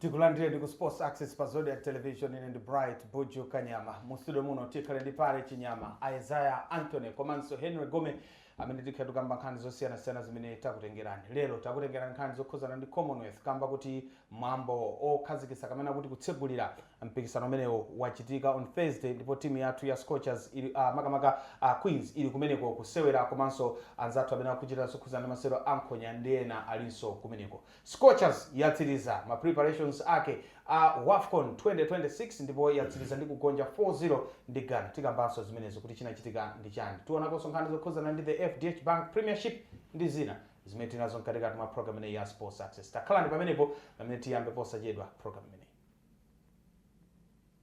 tikulandire ndi ku sports access pa zodiak television ine ndi bright buju kanyama mu studio muno tikhale ndi pale chinyama isaiah anthony komanso henry gome amene tikhale tukamba nkhani zosiyanasiyana zimene takutengerani lero takutengerani nkhani zokhuzana ndi commonwealth kamba kuti mwambo okhazikisa kapena kuti kutsegulira mpikisano umenewu wachitika on thursday ndipo timu yathu ya scorchers ili a makamaka a queens ili kumeneko kusewera komanso anzathu amene akuchita zokhuzana ndi masewero ankhonya ndi ena alinso kumeneko Scorchers yatsiriza ma preparations ake a Wafcon 2026 ndipo yatsiriza ndi kugonja 4 0 ndi Ghana. Tikambanso zimenezo kuti chinachitika ndi chani. Tionakonso nkhani zokhuzana ndi the FDH Bank Premiership ndi zina zimene tinazo mkatikati mwa program imeneyi ya Sports Access. Takhalani ndi pamenepo pamene tiyambe posachedwa program imeneyi.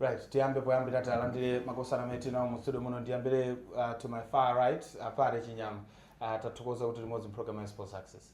right tiyambe poyambira talandire makosana amene tinawo mu studio muno ndiyambire uh, to my far right apare chinyama uh, tathokoza kuti tili limodzi mpulogalamu ya sports access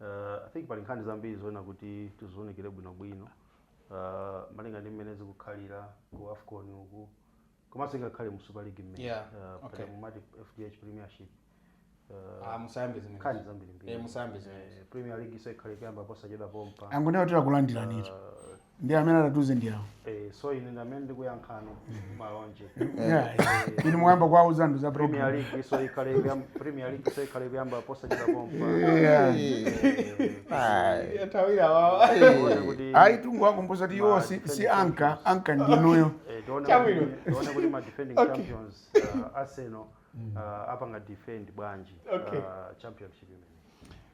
Uh, I think pali nkhani zambiri zoona kuti tiziunikire bwinobwino uh, malinga ndi mmene zikukhalira ku afcon uku komanso ingakhale mu super league mmene Yeah, uh, okay. pali mumati fdh premiership uh, Ah, musayambe zimene. nkhani zambirimbiri Eh, musayambe zimene. Eh, premier league nso ikhale kuyamba posachedwa pompa angonena kuti takulandiranitu ndi amene atatuze ndi awo Eh, so ine ndamene ndikuyankhano malonje Yeah, yeah. inu muyamba kuwauza anthu za premier program league nso ikhale ikuyam- premier league nso ikhale kuyamba posachedwa pompa Yatawira wawa. Tione kuti- ayi tungowakumbusa kuti iwo si- si anka anka ndinuyo eh, tione Chabwino. kuti- tione kuti ma defending Okay. champions uh, arsenal uh, apanga defend bwanji Okay. uh, championship imene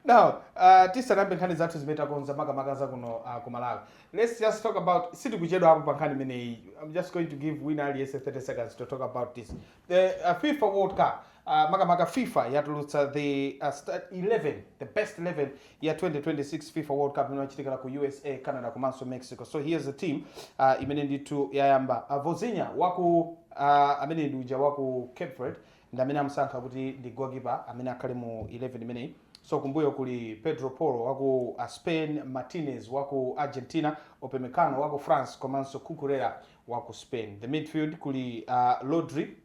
Now, uh, tisanayambe nkhani zathu zimene takonza makamaka za kuno uh, ku Malawi. Let's just talk about sitikuchedwapo pa nkhani imeneyi. I'm just going to give wina aliyense 30 seconds to talk about this. The uh, FIFA World Cup uh, makamaka FIFA yatulutsa the uh, sta- 11 the best 11 ya 2026 FIFA World Cup imene yachitikira ku USA, Canada komanso Mexico. So here's the team uh, imene ndithu yayamba. Uh, Vozinha waku uh, amene ndi uja waku Cape Verde ndi amene amusankha kuti ndi goalkeeper amene akhale mu 11 imeneyi so kumbuyo kuli Pedro Porro wa ku uh, Spain, Martinez wa ku Argentina, Upamecano wa ku France komanso Cucurella wa ku Spain. The midfield kuli uh, Rodri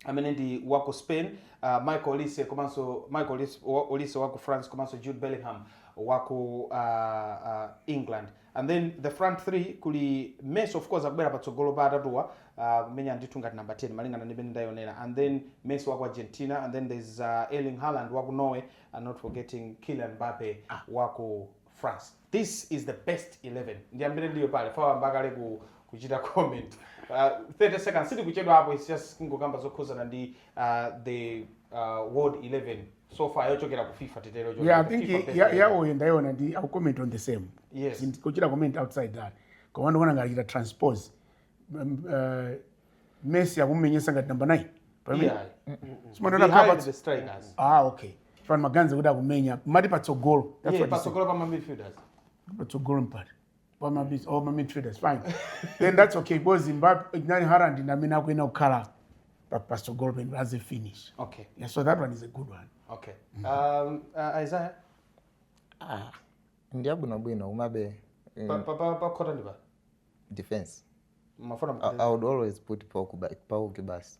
amene ndi wa ku Spain, uh, Michael Olise wa ku France komanso Jude Bellingham wa ku uh, uh, England. and then the front 3 kuli Messi of course akubwera patsogolo pa atatuwa uh, kumenya ndithu ngati number 10 malingana ndi mmene ndayonera and then Messi wa ku Argentina and then there's uh, Erling Haaland wa ku Norway and not forgetting Kylian Mbappe ah. wa ku France this is the best 11 ndiyambire ndi iwe Pale Fawa wayamba kale ku kuchita comment uh, 30 seconds sitikuchedwa apo it's just kungokamba zokhuzana ndi uh, the uh, world 11 so far yochokera ku fifa titero yeah i yochokera ku think FIFA ya- president. yawoyo ndaiona ndi I will comment on the same Yes. Ndi- kuchita comment outside that koma ndikuona ngati achita transpose Um, uh, messi akumumenyesa ngati number 9 Yeah. simandiona Behind kapa the strikers ah okay ndimaganiza kuti akumenya mwati patsogolo that's Yeah, what he said. patsogolo pa ma midfielders patsogolo mwati pamabisi oh, mami traders fine then that's okay because zimbabwe nani harand ndamene akuenda kukhala pa- pasogolo penu as a finish okay yeah, so that one is a good one okay um, uh, isaiah Ah, ndi abwinobwino umabe eh, pa- pa- pa- pakota ndi pa defense mafuna I, i would always put pauki basi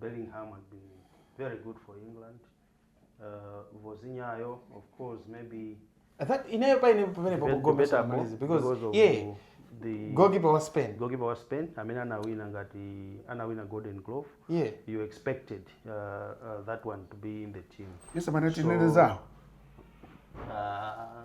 Bellingham had been very good for England. Uh, Vozinhayo, of course, maybe That ineyo pa ine pamene pa Debate- Gomez debatable amalize because because of yeah the goalkeeper wa Spain goalkeeper wa Spain amene anawina ngati anawina Golden Glove. yeah You expected uh, uh, that one to be in the team. yesu amene tinene zawo Uh,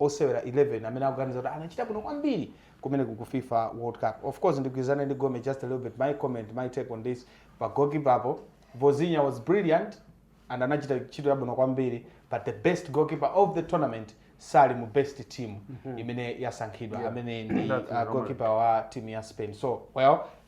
osewera 11 amene akuganiza kuti anachita bwino kwambiri kumeneko ku fifa world cup of course ndigwirizane ndi gome just a little bit my comment my take on this pa goalkeeperpo Vozinha was brilliant and anachita ntchito yabwino kwambiri but the best goalkeeper of the tournament sali mu best team imene yasankhidwa amene ndi That's uh, right. goalkeeper wa team ya spain so well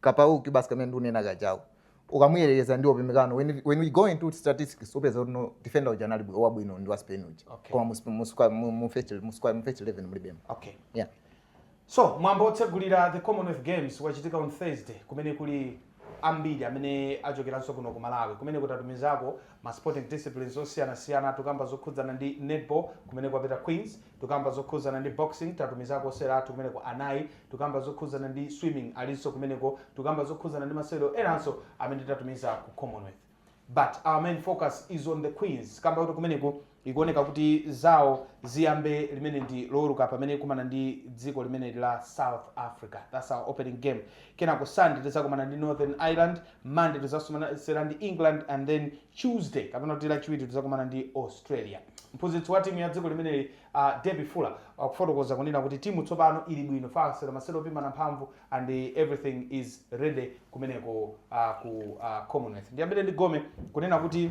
ka Pau Cubarsi kamene ndikunena kajako, ukamuyerekeza ndi Upamecano when, when we go into statistics upeza kuti no defender uja anali bwi- wabwino ndi wa spain uja Okay. koma mu- mu squad- mu- mu first- mu squad- mu first 11 mulibemo okay yeah so mwambo otsegulira the commonwealth games wachitika on thursday kumene kuli ambiri amene achokeranso kuno ku malawi kumene tatumizako ma sporting disciplines osiyanasiyana tukamba zokhudzana ndi netball kumene kwapita queens Tukamba zokhudzana ndi boxing tatumizako osewera athu kumeneko anayi, tukamba zokhudzana ndi swimming alinso kumeneko, tukamba zokhudzana ndi masewero enanso amene tatumiza ku Commonwealth but our main focus is on the Queens kamba kuti kumeneko ikuoneka kuti zawo ziyambe limeneli ndi Loweruka pamene ikumana ndi dziko limeneli la South Africa, that's our opening game, kenako Sunday tidzakumana ndi Northern Ireland. monday tizakumana ndi england and then tuesday kapena kuti lachiwiri tizakumana ndi australia mphunzitsi wa timu ya dziko limeneli uh, Debbie Fuller akufotokoza kunena kuti timu tsopano ili bwino tasewera masewero opimana mphamvu and everything is ready kumeneko uh, ku uh, commonwealth ndiyambire ndi gome kunena kuti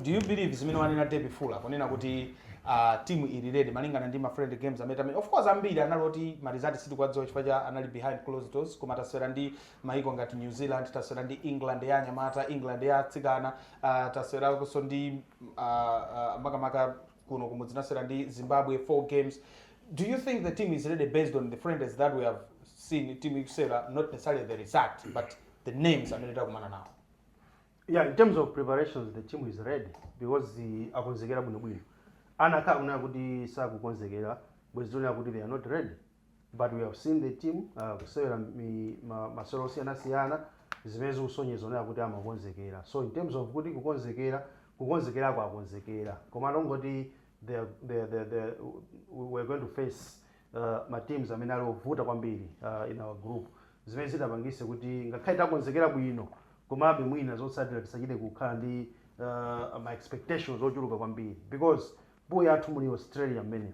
do you believe zimene wanena Debbie Fuller kunena kuti uh, timu ili ready malingana ndi ma friendly games amene tamenya of course ambiri anali oti ma results sitikuwadziwa chifukwa cha anali behind closed doors koma tasewera ndi maiko ngati new zealand tasewera ndi england ya anyamata england ya atsikana uh, tasewerakonso ndi uh, uh, makamaka kuno kumudzi tinasewera ndi zimbabwe four games do you think the team is ready based on the friendlies that we have seen team ikusewera not necessarily the result but the names amene takumana nawo yeah in terms of preparations the team is ready because the akonzekera bwinobwino anakakhala kunena kuti sakukonzekera bwenzi tikunena kuti they are not ready but we have seen the team uh, kusewera mi- ma- masewero osiyanasiyana zimene zikusonyezeratu kuti amakonzekera so in terms of kuti kukonzekera kukonzekera takonzekera koma kungoti they are- they are- they are- they are- we're going to face uh, ma teams amene ali ovuta kwambiri uh, in our group zimene zitapangitse kuti ngakhale takonzekera bwino komabe mwina zotsatira tisachite kukhala ndi uh, ma expectations ochuluka kwambiri because pool yathu muli australia mmenemo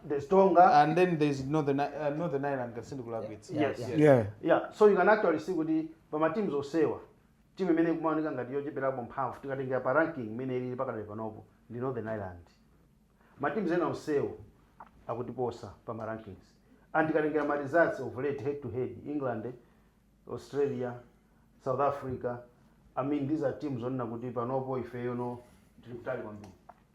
there's Tonga. And then there's Northern, uh, Northern Ireland can still collab with. Yes. yes. Yeah. Yeah. So you can actually see with the from a teams of Sewa. Team imene kumaoneka ngati yocheperapo mphamvu tikatengera pa ranking imene ili pakadali panopo ndi Northern Ireland. Ma teams ena onsewo akutiposa pa ma rankings. And tikatengera ma results of late head to head England Australia, South Africa, I mean these are teams onena kuti panopo ifeyo no tili kutali kwambiri.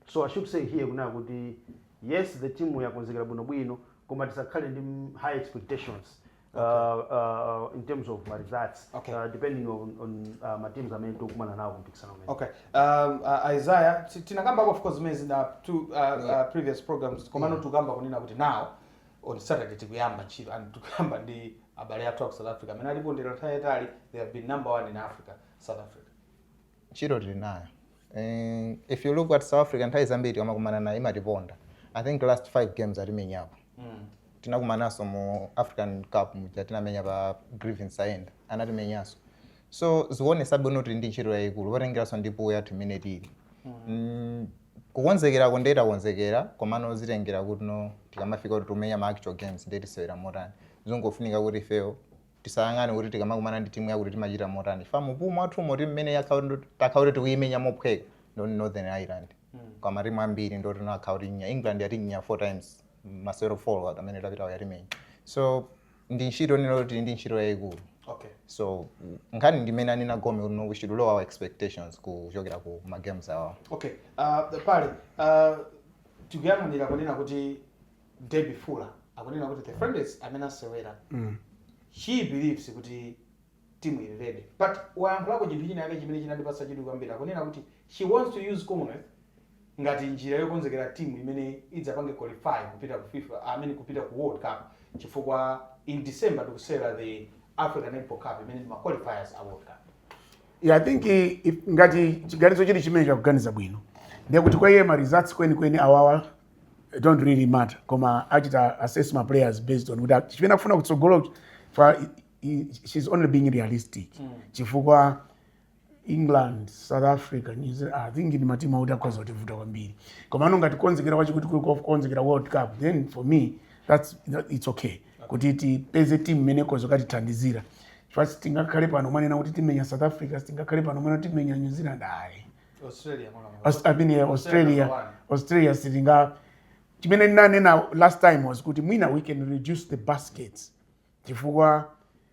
So I should say here kunena kuti yes the team yakonzekera bwinobwino koma tisakhale ndi m- high expectations uh, uh, in terms of ma results Okay. uh, depending on, on uh, ma teams amene tikukumana nawo kumpikisano umenewu. okay um, uh, isaiah ti- tinakambako of course zimenezi in the two uh, uh, previous programs komano tikukamba kunena kuti now on Saturday tikuyamba ntchito and tikuyamba ndi abale athu a ku South Africa amene ali pa form nthawi yatali they have been number one in Africa South Africa ntchito tili nayo Eh, if you look at South Africa nthawi zambiri tikamakumana nayo imatiponda I think last five games atimenyapo mm. tinakumananso mu african cup muja tinamenya pa Griffin Saenda anatimenyanso so zikuonetsa bwino kuti tili ndi ntchito yayikulu potengeranso ndi pool yathu imene tili mm. Kukonzekerako nde takonzekera komano zitengera kuti no tikamafika kuti tikumenya ma actual games nde tisewera motani. Zungofunika kuti ifeyo tisayang'ane kuti tikamakumana ndi timu yakuti timachita motani chifukwa mu pool mwathumo timu imene yakhala kuti ndo takhala kuti tikuyimenya mophweka ndo Northern Ireland koma matimu ambiri ndi oti no akhala akutimenya England yatimenya 4 times masewero 4 amene apitawo yatimenya so ndi ntchito ndithu kuti ndi ntchito yayikulu okay so nkhani ndi imene wanena Gome kuti no we should lower our expectations kuchokera ku ma games awa okay uh, pali uh, tikuyang'anira kunena kuti Debbie Fuller akunena kuti the friendlies amene asewera mm. she believes kuti team is ready but wayankhulako chinthu china chake chimene chinandipatsa chidwi kwambiri akunena kuti she wants to use commonwealth ngati njira yokonzekera timu imene idzapange qualify kupita ku fifa i mean kupita ku world cup chifukwa in december tikusewera the african netball cup imene ndi ma qualifiers a world cup Yeah, I think i- if- ngati chiganizo chili chimenecho akuganiza bwino ndiye kuti kwa iye ma results kwenikweni awawa don't really matter koma achita assess ma players based on kuti chimene akufuna kutsogolo pa i- she's only being realistic chifukwa england south africa new zealand i think ndi matimu oti akhoza kutivuta kwambiri komano ngati kukonzekera kwake kuti kuli kof- konzekera world cup then for me that's, that, it's okay kuti tipeze timu imene ikhoza kukatithandizira chifukwa sitingakhale pano kumanena kuti timenya south africa sitingakhale pano kumanena timenya new zealand ayi australia mwana mwana. Aus- I mean, eh, australia Australia. australia sitinga chimene ndinanena last time was kuti mwina we can reduce the baskets chifukwa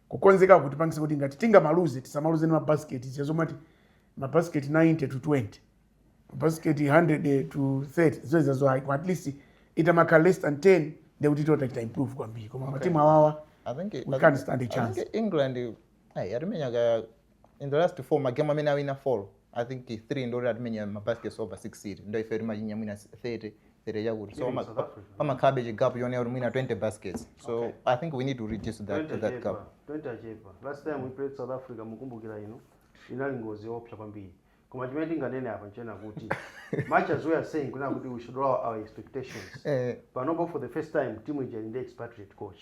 kukonzeka kutipangisa kuti ngati tingamaluze tisamaluze ni mabasiketi za zomati mabasiketi 90 to 20 mabasiketi 100 to 30 zoterezo ayi at least itamakhala less than 10 ndekuti titachita improve kwambiri koma okay. matimu awawa I think, we I can't think, stand a chance I think england hey, yatimenya ka in the last 4 magemu amene awina 4 i think 3 ndoti atimenya ma baskets over 60 ndiye ife timachinya mwina 30 30 chakuti so Even ama- South Africa. pamakhalabe chigapu chonena kuti mwina 20 baskets so Okay. i think we need to reduce that, to that gap 20 achepa last time we played south africa mukumbukira ino inali ngozi yoopsa kwambiri koma chimene tinganene apa nchena kuti much as we are saying kunena kuti we should lower our expectations Eh. panopo for the first time timu ili ndi expatriate coach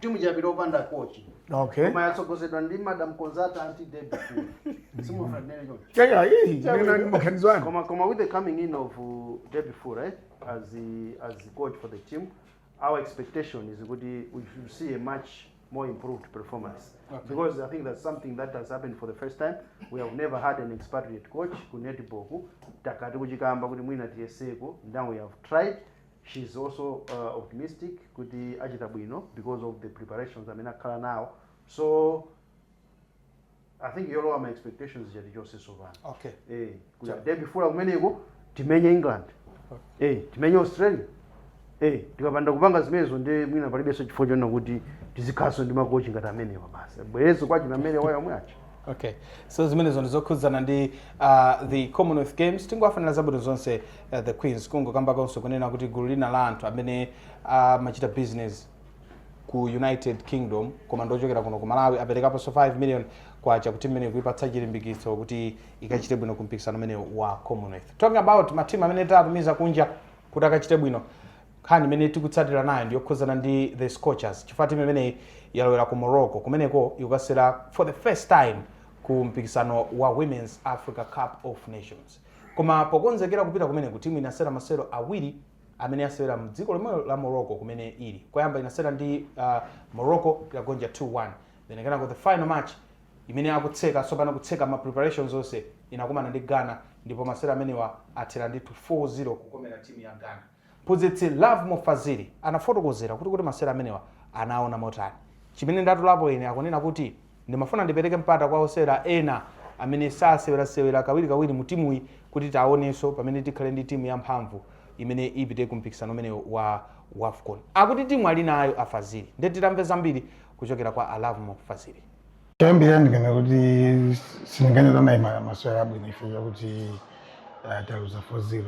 timu ija yapita opanda kochi okay koma yatsogozedwa ndi madam konzata anti david simufanere choncho yeah yeah hii nina ni makanzo yangu Koma, Koma, with the coming in of uh, Debbie Foo, right, as the as the coach for the team, our expectation is good. We should see a much more improved performance because I think that's something that has happened for the first time. We have never had an expatriate coach ku netball ku takati kuchikamba kuti mwina tiyeseko. Now we have tried. She is also optimistic kuti achita bwino because of the preparations amene akhala nawo so I think yolowa ma expectations ija tichonse sopano Okay. eh, kuti Cha- Debbie Fuller kumeneko timenye england eh, timenye australia eh, tikapanda kupanga zimenezo ndi mwina palibenso chifukwa chonena kuti tizikhalanso ndi makochi ngati amenewa basi abwerezo kwa achina amenewa omwe aja okay so zimenezo ndizokhudzana ndi uh, the commonwealth games tingowafanira zabwino zonse uh, the queens kungokambakonso kunena kuti gulu lina la anthu amene amachita uh, business ku united kingdom koma ndiochokera kuno ku malawi aperekaponso 5 million kwacha kuti mmene kuipatsa chilimbikitso kuti ikachite bwino ku mpikisano umenewu wa commonwealth talking about matimu amene tatumiza kunja kuti akachite bwino nkhani imene tikutsatira nayo ndiyokhudzana ndi the scorchers chifukwa timu imeneyi yalowera ku morocco kumeneko ikukasewera for the first time ku mpikisano wa women's africa cup of nations Koma pokonzekera kupita kumeneku, timu inasewera masewero awiri amene yasewera mdziko lomwelo la Morocco kumene ili. Koyamba inasewera ndi Morocco inagonja 2, 1 then kenako the final match imene akutseka tsopano kutseka ma preparations onse inakumana ndi Ghana ndipo masewero amenewa athera ndi 4, 0 kukomera timu ya Ghana. Mphunzitsi Lovemore Fazili anafotokozera kuti kodi masewero amenewa anaona motani. Chimene ndatolapo ine akunena kuti ndimafuna ndipereke mpata kwa osewera ena amene sasewerasewera kawirikawiri mu timuyi kuti tiawonenso pamene tikhale ndi timu yamphamvu imene ipite ku mpikisano umenewu wa Wafcon. Akuti timu alinayo a Fazili nde titamve zambiri kuchokera kwa a Lovemore Fazili. Choyambirira ndinganena kuti sindinganene kuti anali masewero abwino chifukwa chakuti taluza 4-0.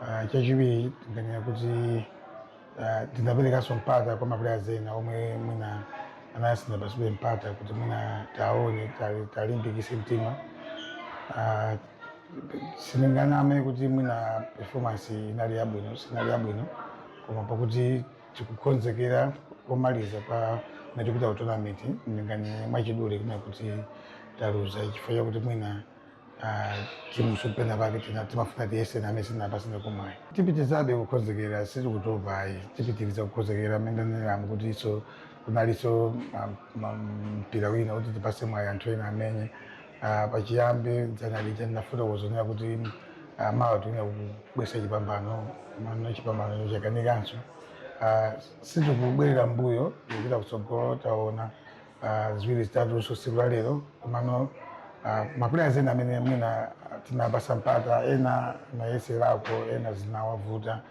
Ah, chachiwiri ndinganena kuti ah, tinaperekanso mpata kwa maplayers ena omwe mwina anali sanapatsidwe mpata kuti mwina taone tali- talimbikise mtima Ah, sindinganame kuti mwina performance inali yabwino sinali yabwino koma pakuti tikukonzekera komaliza pa mene tikupita ku tournament ndinganene mwachidule kunena kuti taluza chifukwa chakuti mwina ah, timuso pena pake tina- timafuna tiyese name sinapasine kumwayi tipitizabe kukonzekera sitikutopa ayi tipitiriza kukonzekera mmene ndaneneramu kuti iso kunaliso ma- ma- mpira wina kuti tipase mwayi anthu ena amenye Ah, pachiyambi dzana lija ndinafotokozera kuti ah, mawa tifuna kubwesa chipambano mano chipambano chakanikanso Ah, sitikubwerera mbuyo tikupita kutsogolo taona ah, ziwiri zitatunso tsiku la lero komano ah, maplayers ena amene mwina tinapasa mpata ena nayeserako ena zinawavuta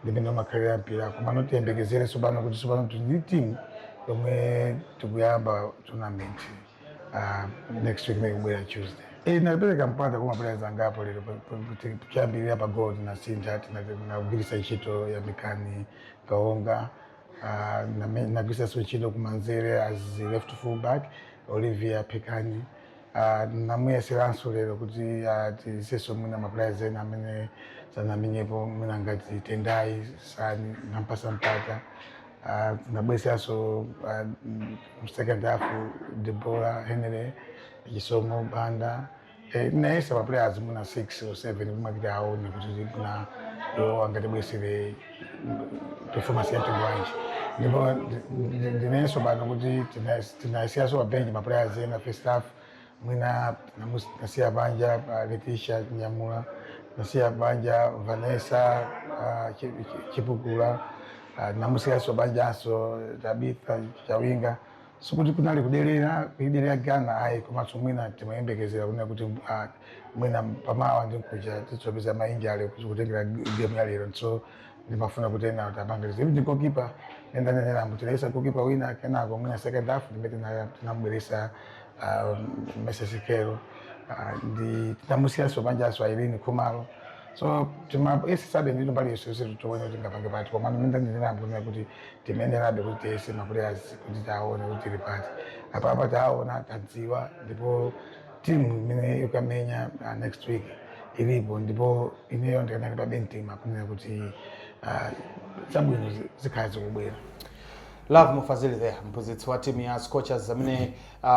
ndi mmene umakhalira mpira komano tiyembekezere tsopano kuti tsopano tili ndi timu yomwe tikuyamba tournament ah, next week imene ikubwera tuesday Eh, napereka mpata kwa maplayers angapo lero pa- pa- kuti kuyambirira pa goal tinasintha tinagwiritsa ntchito Yamikani Kaonga Ah, name- nagwiritsanso ntchito kumanzere as left fullback Olivia Phikani Ah, namuyeseranso lero kuti ah, tiyesenso mwina maplayers ena amene sanamenyepo mwina ngati Tendai Sani nampasa mpata Ah, nabweresanso ah, mm, second half Deborah Henry Chisomo Banda Eh, nayesa ma players mwina 6 or 7 kumapita aone kuti mwina iwo angatibwesere performance ya mtundu wanji ndipo ndi- ndi- ndinenenso pano kuti tina- tinasiyaso pa bench ma players ena first half mwina namus- nasiya panja Leticia Chinyamula nasiya panja Vanessa ah, Chi- Chi- Chipukula ah, namusiyaso panjanso Tabitha Chawinga sikuti kunali kudelera kuidelera ghana ayi komanso mwina timayembekezera kunena kuti ah, mwina pamawa ndi nkuja titsopeza ma injury kutengera gemu ya lero so ndimafuna kuti ena tapangiriza even ndi goalkeeper mmene ndaneneramu tinayesa goalkeeper wina kenako mwina second half ndime tina- tinamubweresa ah, Mercy Sikelo Ah, ndi tinamusiyaso panjaso Ireen Khumalo so timayesesabe ndithu mbali yoseyose titoone kuti ngapange pati koma mmene ndaneneramu kunena kuti timayenerabe kuti tiyese maplayers kuti taone kuti tili pati apapa taona tadziwa ndipo timu imene ikamenya uh, next week ilipo ndipo ineyo ndikanalimbabe mtima kunena kuti uh, zabwino zi- zikhala zikubwera Lovemore Fazili there mphunzitsi wa timu ya Scorchers amene uh,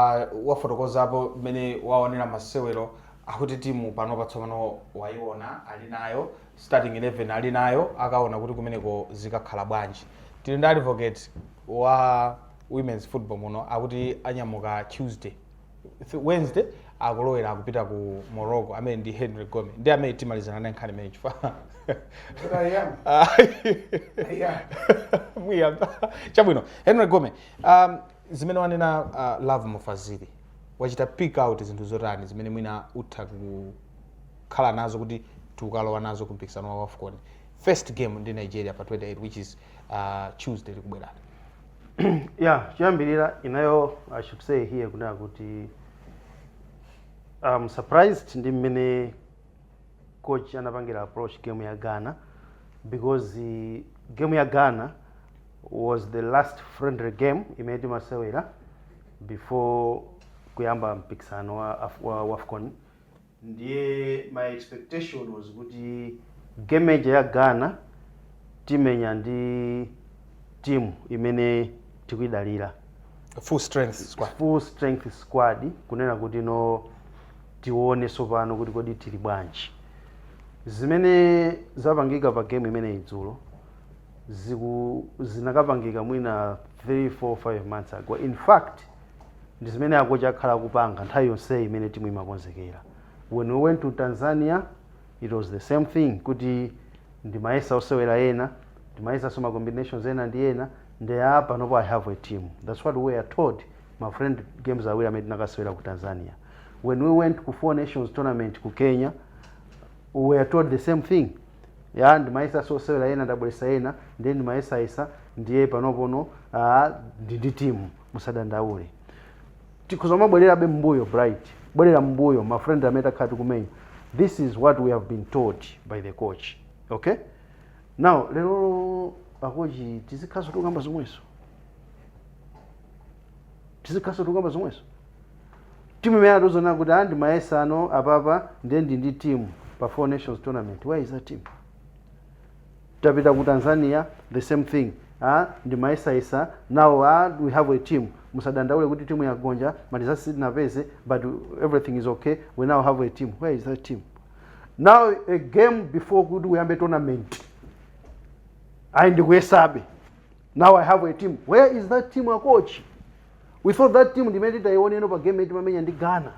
wafotokozapo mmene waonera masewero akuti timu pano patsopano waiona ali nayo starting 11 alinayo akaona kuti kumeneko zikakhala bwanji tili ndi advocate wa women's football muno akuti anyamuka tuesday Th- wednesday akulowera akupita ku morocco amene ndi henry gome ndi amene timalizana naye nkhani imene chifukwa muyamba chabwino henry gome um, zimene wanena uh, Lovemore Fazili wachita pick out zinthu zotani zimene mwina utha ku kukhala nazo kuti tikukalowa nazo ku mpikisano wa wafcon first game ndi nigeria pa 28 which is uh, tuesday likubwerani yeah choyambirira inayo i should say here kunena kuti I'm surprised ndi mmene coach anapangira approach game ya ghana because uh, game ya ghana was the last friendly game imene timasewera before kuyamba mpikisano wa, Af- wa wafcon Ndiye my expectation was kuti game ija ya Ghana timenya ndi team imene tikuyidalira. Full strength squad. Full strength squad kunena kuti no tione sopano kuti kodi tili bwanji. Zimene zapangika pa game imeneyi dzulo ziku zinakapangika mwina 3, 4, 5 months ago. In fact. ndi zimene akochi akhala akupanga nthawi yonseyi imene timu imakonzekera when we went to tanzania it was the same thing kuti ndimayesa osewera ena ndimayesaso ma combinations ena ndi ena ndiye panopo i have a team that's what we are told ma friendly games awiri amene tinakasewera ku tanzania when we went ku four nations tournament ku kenya we are told the same thing ya ndimayesa osewera ena ndabweresa ena ndiye ndimayesayesa ndiye panopono ah, ndi ndi timu musadandaule tikhoza kumabwererabe m'mbuyo bright bwerera m'mbuyo ma friendly amene takhala tikumenya this is what we have been told by the coach okay now lero akochi tizikhaso tikukamba zomweso tizikhaso tikukamba zomweso timu imene atiuza kuti ah ndimayesa ah no apapa ndiye ndili ndi timu pa four nations tournament where is that team tapita ku tanzania the same thing ah, ndimayesayesa now ah, we have a team musadandaule kuti timu yagonja ma results sitinapeze but everything is okay we now have a team where is that team now a game before kuti uyambe tournament ayi ndikuyesabe now i have a team where is that team akochi we thought that team ndi imene titayione no pa game imene timamenya ndi ghana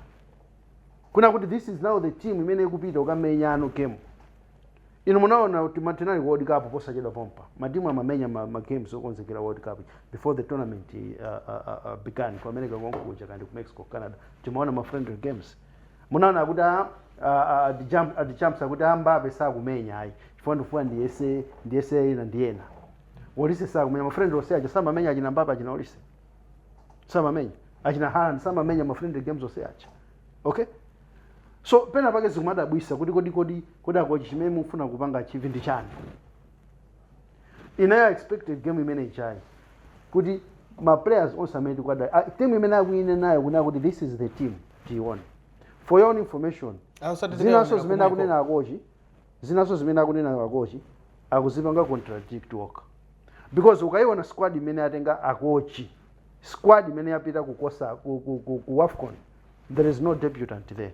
kunena kuti this is now the team imene ikupita kukamenya ano game inu munaona kuti ma- tinali ku world cup posachedwa pompa matimu amamenya ma, ma games okonzekera world cup before the tournament uh, uh, uh, uh, began ku america konkuja kandi ku mexico canada timaona ma friendly games munaona kuti a- a- a- ati Jam- ati champs akuti a Mbappe sakumenya ayi chifukwa ndifuna ndiyese ndiyese ina ndiyena olise sakumenya ma friendly ose aja samamenya achina Mbappe achina olise samamenya achina Haaland samamenya ma friendly games ose aja okay so pena pake zikumadabwitsa kuti kodi kodi kodi akochi chimene mufuna kupanga achieve ndi chani inayo expected game imene ichayi kuti ma players onse amene tikwadali ah, team imene akuyine nayo kunena kuti this is the team tione for your own information Ah, usati zinaso tikaonera zimene kumweko. akunena akochi zinaso zimene akunena akochi akuzipanga contradict okay because ukayiona squad imene atenga akochi squad imene yapita kukosa ku, ku, ku, ku wafcon there is no debutant there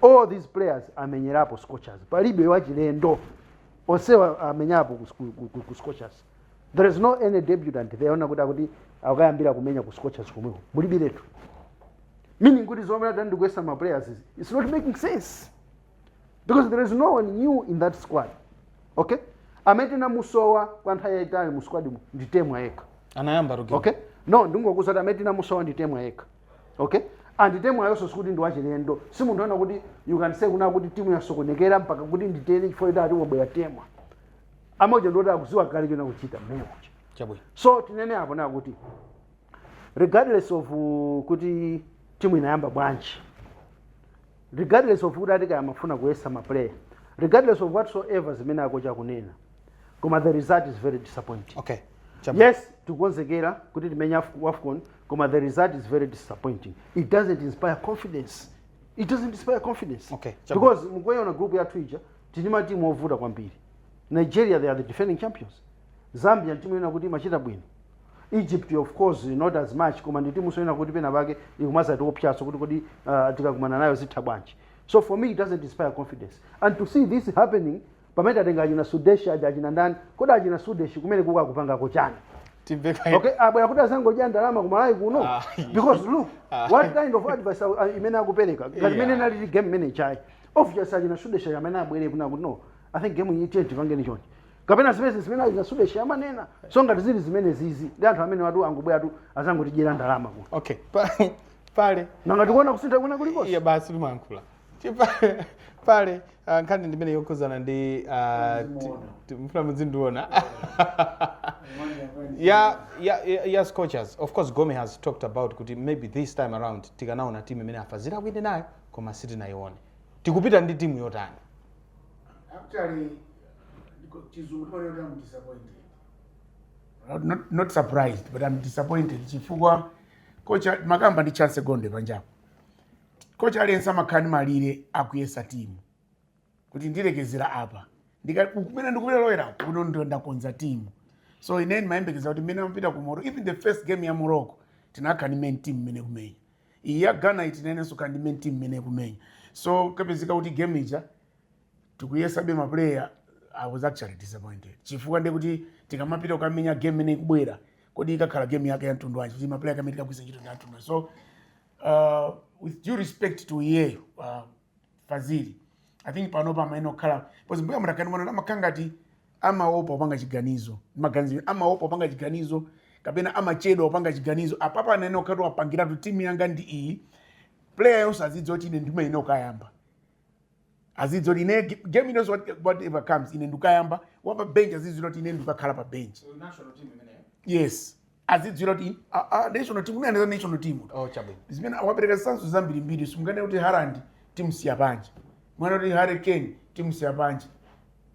all these players amenyerapo scorchers palibe wachilendo onsewa amenyapo ku- ku- ku- ku- ku scorchers there is no any debutant there wonena kuti akuti akayambira kumenya ku scorchers komweko mulibiretu meaning kuti zomwe ati ndikuyesa ma players izi, it's not making sense because there is no one new in that squad okay amene tinamusowa kwa nthawi yayitali mu squad mu ndi temwa yekha anayamba rugi okay no ndingokuza kuti amene tinamusowa ndi temwa yekha okay and temwayonso sikuti ndi wachilendo si munthu wonena kuti you can say kunena kuti timu yasokonekera mpaka kuti nditere chifukwa kuti ati wabwera temwa amauja ndi oti akudziwa kale choyenera kuchita mmeyo kucha chabwino so tinene apo kunena kuti regardless of uh, kuti timu inayamba bwanji regardless of kuti ati kaya amafuna kuyesa ma player regardless of whatsoever zimene akochi akunena koma the result is very disappointing okay Chamba. yes tikukonzekera kuti timenye Af- wafcon koma the result is very disappointing it doesn't inspire confidence it doesn't inspire confidence Okay, Chamba. because mukaiona group yathu ija tili ndi matimu ovuta kwambiri nigeria they are the defending champions Zambia nditimu yonena kuti imachita bwino. Egypt of course not as much koma nditimunso yonena kuti pena pake ikumazatiopsyanso kuti kodi uh, tikakumana nayo zitha bwanji. So for me it doesn't inspire confidence. And to see this happening pamene tatenga achina Sudesh aja achina ndani kodi achina Sudesh kumene kukakupangako chani? Tibeka okay, abwera ah, kuti adzangodya ndalama ku Malawi kuno ah, because look ah. what kind of advice imene akupereka ngati imene nalili game manager ayi obviously achina Sudesh amene abwere kunena kuti no I think game iyi tiye tipange chonchi kapena zimene zimene achina sudeshi amanena so ngati zili zimenezizi ndi anthu amenewatu angobweratu azangotidyera ndalama kuno okay pa- pale nanga tikuona kusintha kwina kulikonse iya basi timalankhula Chipa- pale ah, nkhani ndimene yokhuzana ndi ah, ti- ti- mfuna muzindiona ya ya ya- ya scorchers of course gome has talked about kuti maybe this time around tikanaona timu imene a Fazili akuyenda nayo koma sitinayione tikupita ndi timu yotani actually ndiko- chizungu timanena kuti am disappointed not, not, not surprised but am disappointed chifukwa coach makamaka ndi Chance Gondwe panjapo coach aliyense amakhala ndi malire akuyesa timu kuti ndilekezera apa Ndika- kumene ndikulowera kuno ndo ndakonza timu so ine ndimayembekeza kuti mmene amapita ku morocco even the first game ya morocco tinayenera kukhala ndi main team imene ikumenya iyi ya Ghana yi tinayeneranso kukhala ndi main team imene ikumenya so kupezeka kuti game ija tikuyesabe ma player I was actually disappointed chifukwa ndiye kuti tikamapita kukamenya game imene ikubwera kodi ikakhala game yake ya mtundu wanji kuti ma player kamene tikagwiritse ntchito ndi a mtundu wanji so uh, with due respect to iyeyo uh, Fazili i think panopa amayenera kukhala because mbuya mutakani mwana amakhala ngati amaopa kupanga chiganizo maganizo amaopa kupanga chiganizo kapena amachedwa kupanga chiganizo apapa anayenera kukhala atapangiratu timu yanga ndi iyi player yonse azidziwa kuti ine ndimayenera kukayamba azidziwa kuti ine ge- game inonse what- whatever comes ine ndikayamba wapa bench azidziwa kuti ine ndikakhala pa bench national team imeneyo yes azidziwira kuti a- a- national team imene anenazo national team oh chabwino zimene wapereka zitsanzo zambirimbiri simunganene kuti Haaland timusiya panja mwana kuti harry kane timusiya panja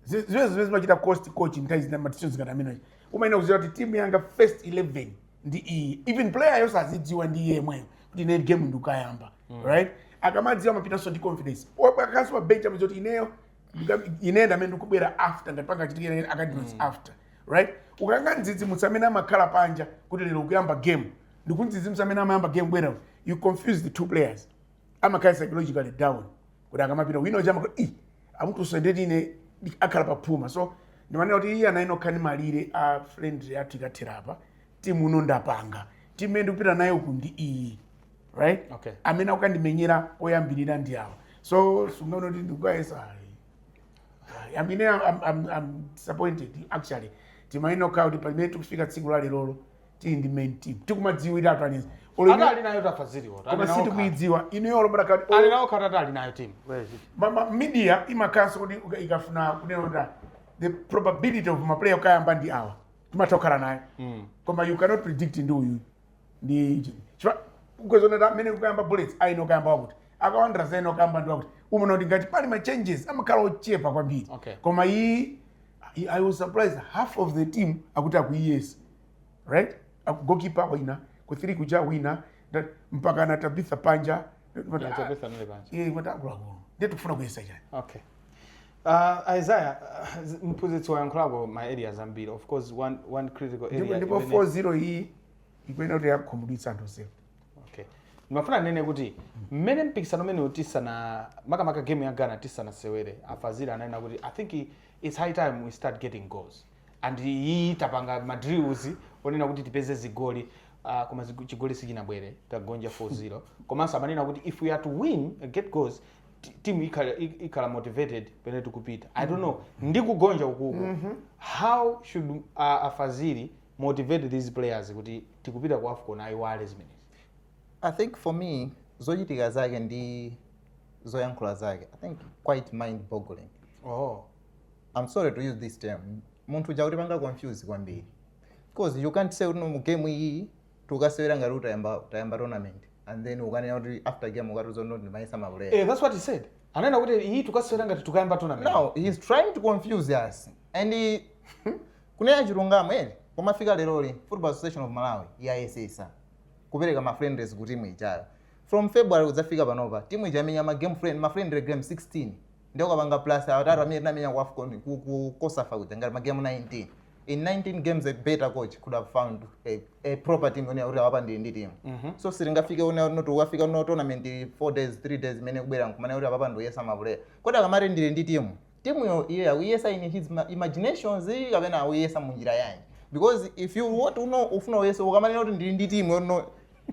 Zi- zimene zimene zimachita cost coach nthawi zina ma decisions ngati amenewa umayenera kudziwa kuti timu yanga first 11 ndi iyi even player yonse azidziwa ndi iye yemweyo kuti ine game ndikayamba right akamadziwa amapitanso ndi confidence akakhalanso pa bench amadziwa zoti ineyo Ndika- ine ndi amene ndikubwera after ngati pangachitika ine akandinotsi after right ukangomudzidzimutsa amene amakhala panja kuti lero ukuyamba game ndi kumudzidzimutsa amene amayamba game bwera you confuse the two players amakhala psychologically down kuti akamapita wina uja amaka i amuchotsa ndiye kuti ine ndi- akhala paphuma so ndimanena kuti iye anayenera kukhala ndi malire a friendly yathu ikathera apa timu uno ndapanga timu imene ndikupita nayo ku ndi iyi right okay. amene akukandimenyera oyambirira ndi awa so sunganene kuti ndikukayesa I mean, I'm, I'm, I'm disappointed actually timayenera kukhala kuti pamene tikufika tsiku la lerolo tili ndi main team tikumadziwira atolankhani ata ali nayo tafa ziliwo koma sitikuidziwa inuyo olobera kati ali nawo khatata ali nayo timu ma- ma- media imakhalanso kuti uka- ikafuna kunena kuti the probability of maplayer kukayamba ndi awa timatha kukhala nayo mm. koma you cannot predict ndi uyu ndi iji chifukwa ukudziwa kuti amene kukayamba bullets ayenera kayamba wakuti aka Wanderers ayenera kukayamba ndi wakuti umaona kuti ngati pali ma changes amakhala ochepa kwambiri Okay. koma iyi i- i was surprised half of the team akuti akuyiyesa right Aku- goalkeeper wina ku three kuja wina nda- mpakana tabitha panja Yeah, Tabitha anali panja. Eh, wati akuluakulu ndiye tikufuna kuyesa chani okay Uh, Isaiah, uh, mphunzitsi wayankhulapo ma areas ambiri of course one, one critical area ndipo 4-0 iyi ikuyenera kuti yakhumudwitsa anthu onsewo okay ndimafuna ndinene kuti mmene mpikisano umenewu tisana makamaka game ya ghana tisanasewere a Fazili ananena kuti i think it's high time we start getting goals and iyi tapanga madrills onena kuti tipeze zigoli uh, koma chigoli sichinabwere tagonja 4-0 komanso amanena kuti if we are to win uh, get goals ti- timu ikhala ik- ikhala motivated pamene tikupita i don't know ndi kugonja ukuku how should uh, a Fazili motivate these players kuti tikupita ku afcon ayiwale zimenezi i think for me zochitika zake ndi zoyankhula zake i think quite mind boggling oh i'm sorry to use this term munthu uja akutipanga confuse kwambiri because you can't say kuti no mu game iyi tukasewera ngati utayamba tayamba tournament and then ukanena kuti after game ukatiuza kuti ndimayesa maplayer eh, that's what he said anena kuti iyi tukasewera ngati tukayamba tournament now he's trying to confuse us and he- kunena chilungamo ere pomafika leroli football association of malawi yayesetsa kupereka ma friendlies ku timu ijayo from february kudzafika panopa timu ija yamenya ma game friend ma friendly game 16 ndiye ukapanga plus atatu amene tinamenya ku afcon ku, ku cosafa kuja ngati ma game 19 in 19 games a better coach could have found a, a proper team yonena kuti apapa ndili ndi team so sitingafike una not ukafika ku tournament 4 days 3 days imene ikubwera nkumanena kuti apapa ndiyesa maplayer kodi akamati ndili ndi team team yo iyeyo akuyesa in his ma- imaginations kapena akuyesa mu njira yanji because if you want to know ufuna uyesa ukamanena kuti ndili ndi team yono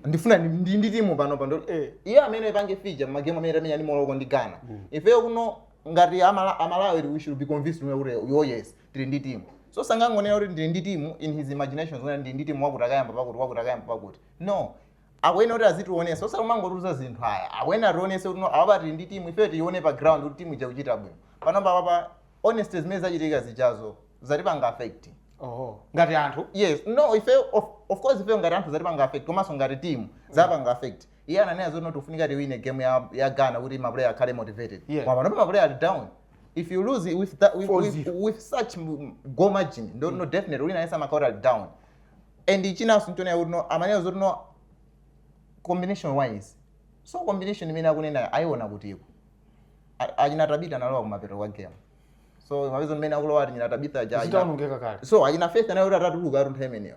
ndifuna ndi- ndili ndi timu pano pano Eh. iye amene ipange feature magemu amene tamenya ndi Morocco ndi Ghana ifeyo kuno ngati amala amalawi we should be convinced kuti oh yes tili ndi timu so sangangonena kuti ndili ndi timu in his imagination zonena kuti ndili ndi timu wakuti akayamba pakuti wakuti akayamba pakuti no akuyenera kuti azitionetsa osati umangotiuza zinthu ayi akuyenera ationetse kuti no apapa tili ndi timu ifeyo tiione pa ground kuti timu ija ikuchita bwino panopa apapa honest zimene zachitika zijazo zatipanga affect oh ngati anthu yes no ife of, of course ife ngati anthu zatipanga affect komanso ngati team zapanga affect iye ananena zoti no tikufunika tiwine game ya, ya ghana kuti maplayer akhale motivated Yeah. koma panopa maplayer ali down if you lose with, that, with, with, with such goal margin no, no definitely wina aliyense amakhala ali down and chinanso nchonena kuti no amanena zoti no combination wise so combination imene akunena waiona kutiko achina tabitha analowa kumapeto kwa game so mapeto ake mmene akulowa achina tabitha jaji so achina faith anali oti atatuluka nthawi imeneyo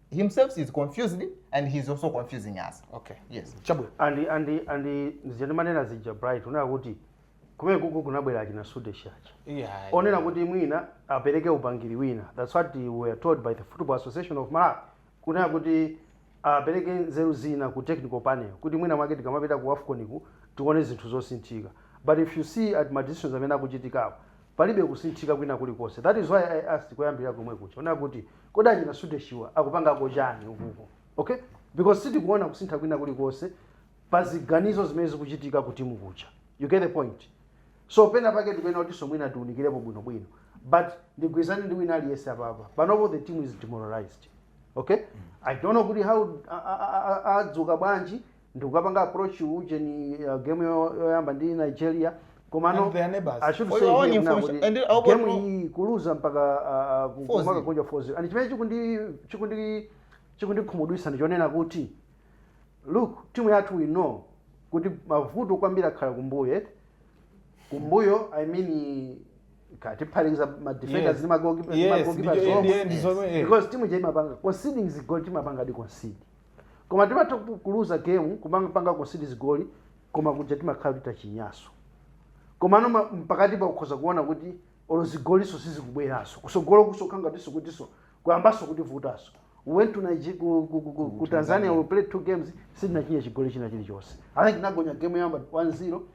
himself is confused and he's also confusing us okay yes chabwino and and and zija ndimanena zija bright unena kuti kumene kuja kunabwera achina sudesh aja yeah onena kuti mwina apereke upangiri wina that's what we were told by the football association of malawi kunena kuti apereke nzeru zina ku technical panel kuti mwina mwake tikamapita ku afconiku tione zinthu zosinthika but if you see ati ma decisions amene akuchitikawa Palibe kusinthika kwina kulikonse. That is why I asked koyambirira komwe kuja. Kunena kuti, kodi achina Sudeshiwa akupangako chani ukuku? Okay? Because sitikuona kusintha kwina kulikonse pa ziganizo zimene zikuchitika ku timu kuja. You get the point? So pena pake tikuyenera kutinso mwina tiunikirepo bwinobwino. But ndigwirizane ndi wina aliyense apapa. Panopo the team is demoralized. Okay? I don't know kuti how a- a- a- a- adzuka bwanji ndikukapanga approach ujeni uh, game yo- yoyamba ndi nigeria komano And their neighbors. I should For say your own here kuna information. kuti And I hope game you- iyi kuluza mpaka uh, uh, ku- 4-0. kumakagonja 4-0 and chimene chikundi chikundi chikundikhumudwisa ndichonena kuti look timu yathu we know kuti mavuto kwambiri akhala kumbuyo eti kumbuyo i mean tikaphatikiza madefenders Yes. ndi magoalkeeper- Yes, magoalkeepers ndicho- omwe. ndiye ndizomwe, eh. because timu ija imapanga conceding zigoli timapanga di concede koma timatha kuluza game kumapanga concede zigoli koma kuja timakhala kuti tachinyanso komano ma- mpakatipa ukhoza kuona kuti olo zigolinso sizikubweranso kusogolokunso kha ngatinso kutinso kuyambanso kutivutanso went to Nigeria, ku, ku, ku, ku, ku tanzania we played two games sitinachinye chigoli china chilichonse i think tinagonja game yoyamba 1-0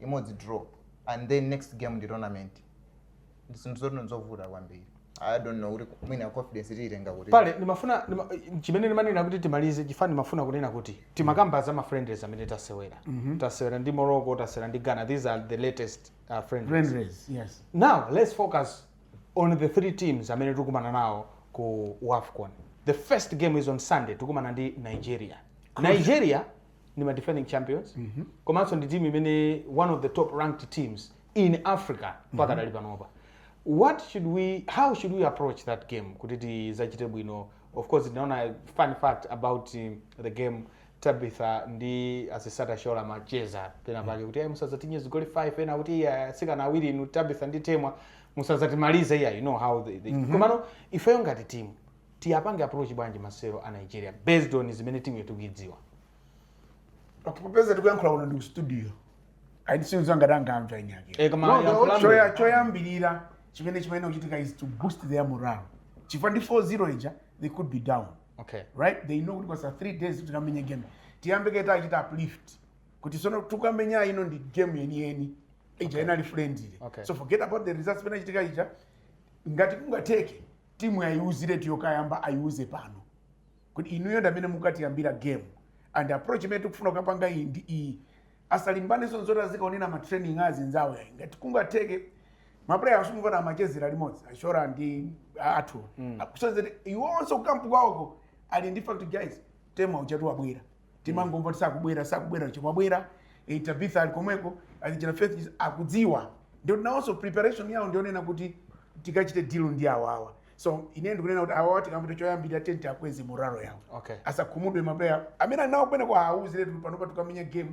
imodzi draw and then next game ndi tournament ndi zinthu zoti nzovuta kwambiri i don't know kuti mwina confidence tiitenga kuti pale ndimafuna ndima- chimene ndimanena kuti timalize chifukwa ndimafuna kunena kuti timakamba za ma friendlies amene tasewera tasewera ndi morocco tasewera ndi ghana these are the latest uh, friendlies friendlies yes now let's focus on the three teams amene tikumana nawo ku wafcon the first game is on sunday tikumana ndi nigeria nigeria ndi ma defending champions komanso ndi timu imene one of the top ranked teams in africa pakadali panopa what should we how should we approach that game kuti tizachite bwino of course tinaona fun fact about um, the game tabitha ndi asisat oshoala amacheza pena pake kuti "Eh, musazatichinye zigoli 5 ena akuti "Iya, asikana awiri inu tabitha ndi temwa musazatimalize iya you know how they, they. komano ifeyo ngati timu Tiapange approach bwanji masewero a Nigeria based on zimene timuyo tikuidziwa? Okay, popeza tikuyankhula kuno ndi ku studio. Ayi sindidziwa ngati angamva eni ake. Eh, koma No, the yankhulaniko. whole choya- choyambirira chimene chimene kuchitika is to boost their morale. Chifukwa ndi 4-0 ija they could be down. Okay. right they know kuti kwasala three days kuti tikamenye game tiyambe kaye tachita uplift kuti sono tukamenya ino ndi game yeniyeni ija inali friendly Okay. so forget about the results inachitika ija ngati kungatheke timu ayiuziretu yokayamba ayiuze pano kuti inuyo ndamene mukatiyambira game and approach imene tikufuna kukapanga iyi ndi iyi asalimbanenso nzoti azikaonera ma training a azinzawo yayi ngati kungatheke mapuleya asumukana amachezera limodzi a oshoala ndi a- athu mm. kusonyeza kuti iwonso kukampu kwawoko ali ndi fact guys temwa ujatu wabwera timangomva kuti sakubwera sakubwera chomwe wabwera eh, tabitha ali komweko ali china faith akudziwa ndio nawonso preparation yawo ndionena kuti tikachite deal ndi awawa so ine ndikunena kuti awawa tikamapita choyambirira tenti akweze moralo yawo Okay. asakhumudwe maplayer amene ali nawo kwene kwa auzire tuli panopa tukamenya game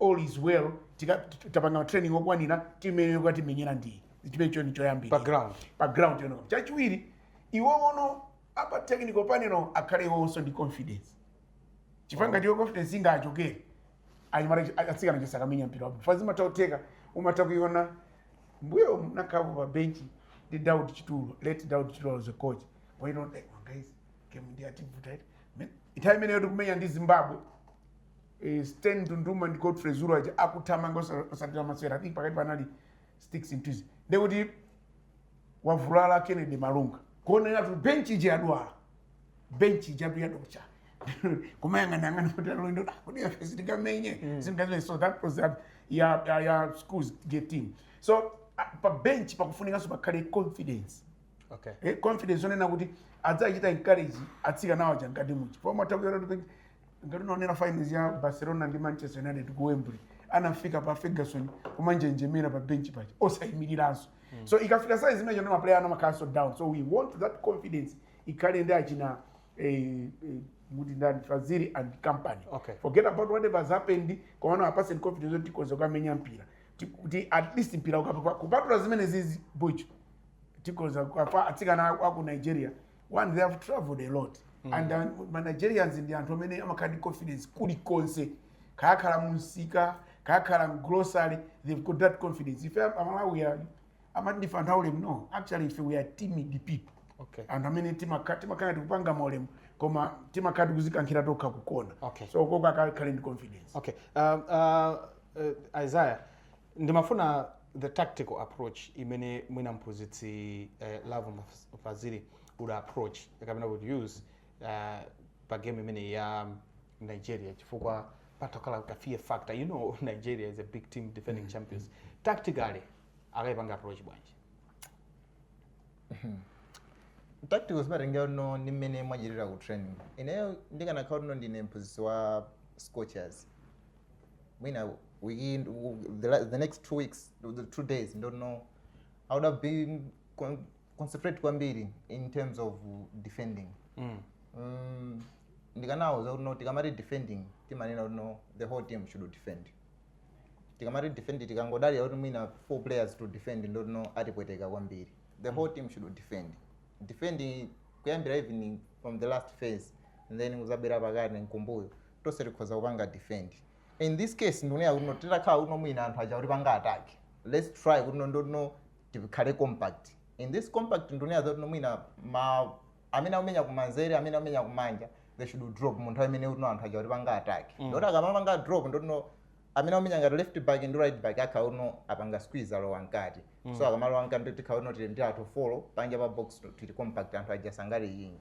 all is well tika- t- tapanga training okwanira timene tikuti timenyera ndi chimenecho ndi choyambirira Pa ground. pa ground yonoko chachiwiri iwo ono apa technical panel akhale iwonso ndi confidence chifukwa ngati iwe confidence ingachokere anyamata chi- atsikana sakamenya mpira wa bho fa zimatha kutheka umatha kuiona mbuyo ndinakhalapo pa benchi ndi daud chitulo late daud chitulo was a coach why don't like "Oh, guys game yativuta iyi Men- nthawi imeneyo tikumenya ndi zimbabwe eh, stanley ndunduma ndi godfrey zulu aja akuthamanga osa- osatira masewera i think pakati panali sticks into his ndekuti wavulala kennedy malunga kuonera kuti bench ija yadwala bench ija yathu yadocha kumayang'anayang'ana kuti alendo kuti ife sitikamenye singaze so that was ya ya, ya schools get team so ah, pa bench pakufunikanso pakhale confidence okay eh, confidence onena kuti adzachita encourage atsikanawo aja mkati muchi pomwe atakuyera kuti ngati unaonera finals ya barcelona ndi manchester united ku wembley anafika pa ferguson kumanjenjemera pa bench paja osayimiriranso so ikafika size imene ija maplayer amakhalanso down so we want that confidence ikhale ndi achina eh, eh, kuti ndani fazili and company Okay. forget about whatever has happened komano awapatse ndi confidence yoti tikhoza kukamenya mpira Ti- kuti at least mpira ukapa kupatula zimene zizi bho tikhoza kwa atsikana aku nigeria one they have traveled a lot mm. and uh, manigerians ndi anthu amene amakhala ndi confidence kulikonse kaya akhala mumsika kaya akhala mgrocery they've got that confidence ife amalawi amati ndife anthu aulemu no actually ife we are timid people okay. anthu amene timakhala tikupanga maulemu koma timakhala tikuzikankhira tokha kukona okay. so koko akakhale ndi confidence okay. uh, uh, uh, isaiah Ndimafuna the tactical approach imene mwina mphunzitsi eh, Lovemore Fazili would approach kapena would use eh, pa game imene ya Nigeria chifukwa pamakhala ka fear factor you know Nigeria is a big team defending champions tactically akayipange approach bwanji tactical zimatengerano ndi mmene mwachitira ku training ineyo ndikanakhala kuti no ndine mphunzitsi wa scorchers mwina wiki the, la- the next two weeks the two days ndekuti no i would have been con- concentrate kwambiri in terms of defending Mm. um, ndikanawauza kuti no tikamati defending timanena kuti no the whole team should defend tikamati defend tikangodalira kuti mwina four players to defend ndekuti no atipweteka kwambiri the whole team should defend defend kuyambira even from the last phase and then kuzabera pakati nkumbuyo tonse tikhoza kupanga defend in this case ndikunena kuti no titakhala kuti no mwina anthu aja akutipanga attack let's try kuti no ndoti no tikhale compact in this compact ndikunena zoti no mwina ma amene akumenya kumanzere amene akumenya kumanja they should drop mu nthawi imene kuti no anthu aja akutipanga attack ndoti akamapanga drop ndoti no amene akumenya ngati left back ndi right back akhala kuti no apanga squeeze alowa mkati so akamalowa mkati ndoti tikhala kuti no tili ndi anthu four panja pa box tili compact anthu aja sangale yinyi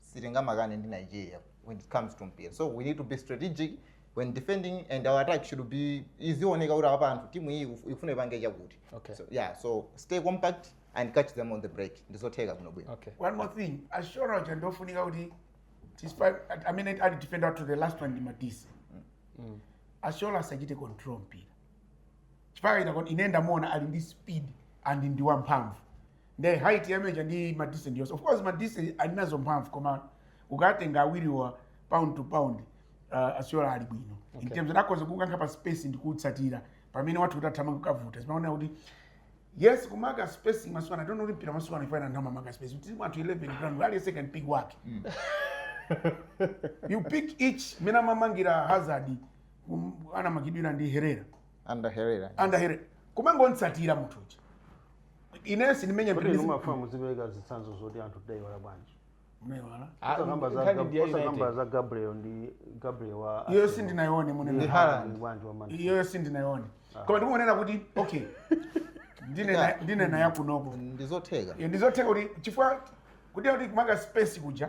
sitingamakane ndi nigeria when it comes to mpira so we need to be strategic when defending and our attack should be izioneka kuti apa anthu timu iyi iku- ikufuna ipange chakuti Okay. so, yeah so stay compact and catch them on the break ndizotheka bwino bwino okay one more thing ashora uja ndofunika kuti despite i mean ali defender up to the last one ndi madisi ashora asachite control mpira chifukwa ine ndamuona ali ndi speed and ndi wamphamvu nde height yake ndi madisi yonse of course madisi ali nazo mphamvu koma ukatenga awiriwa pound to pound uh, ashora ali bwino okay. in terms of kukankha pa space ndi kutsatira pamene wathu kuti athamanga kukavuta zimaona kuti yes kumaka space maswana don't only pira maswana ifana ndama maka space kuti watu 11 grand wali second pick wake mm. you pick each mmene anamumakira hazard um, ana makidwira ndi herera ander herrera ander herrera kumangomutsatira munthu uja ine sindimenya kuti inu mafuna muzipereka zitsanzo zoti anthu tinaiwala bwanji Munaiwala. Ah, Osakamba za nkhani Gab- ndi ya osakamba United. za gabriel ndi gabriel wa iyo sindinayione munene Ndi Haaland. bwanji wa Man City. iyo sindinayione koma ndikungonena kuti okay ndinena ndinena yakunoko ndizotheka ndizotheka kuti chifukwa kuti kuti kumaka space kuja